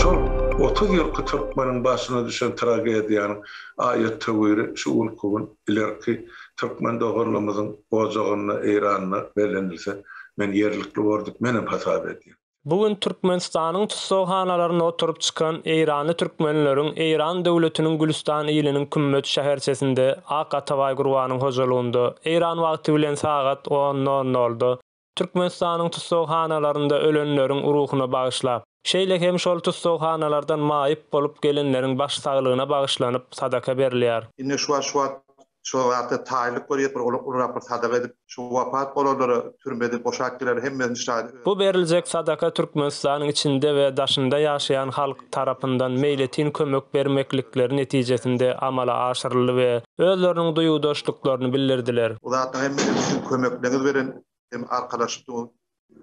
Şol otuz ýylky türkmeniň başyna düşen tragediýanyň aýat-töwiri şu günki gün ilerki türkmen doganlarymyzyň ojagynda, Eýranda bellenilse, men ýerlikli bordyp menem hasap edýän. Bu gün Türkmenistanyň tussaghanalaryna oturyp çykan eýranly türkmenleriň Eýran döwletiniň Gülüstan iliniň Kümmet şäherçesinde Ak Atabaý Gurbanyň hojalygynda, eýran wagty bilen sagat on nol nolda, Türkmenistanyň tussaghanalarynda ölenleriň ruhuna bagyşlap, şeýle hem şol tussaghanalardan maýyp bolup gelenleriň baş saglygyna bagyşlanyp sadaka berilýär. Ine şu wagt Şo zatda taýynlyk görýäs, bir ony ulurak bir sadaka edip, şu wapat bolanlara türmeden boşap gelerler, hemmesini şaýat öz. Bu beriljek sadaka Türkmenistanyň içinde we daşynda ýaşaýan halk tarapyndan meýletin kömek bermeklikleri netijesinde amala aşyryldy we özleriniň duýgudaşlyklaryny bildirdiler. Bu zatlaryň hemmesini siziň kömekleňiz bilen hem arkalaşyp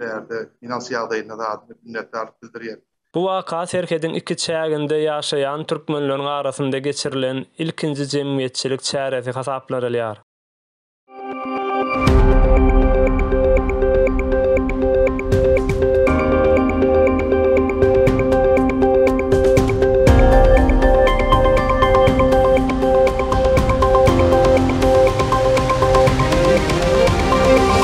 bärde ynans ýagdaýynda zat minnetdarlyk bildirýän. Bu waka serhediň iki çäginde ýaşaýan türkmenleriň arasynda geçirilen ilkinji jemgyýetçilik çäresi hasaplanylýar.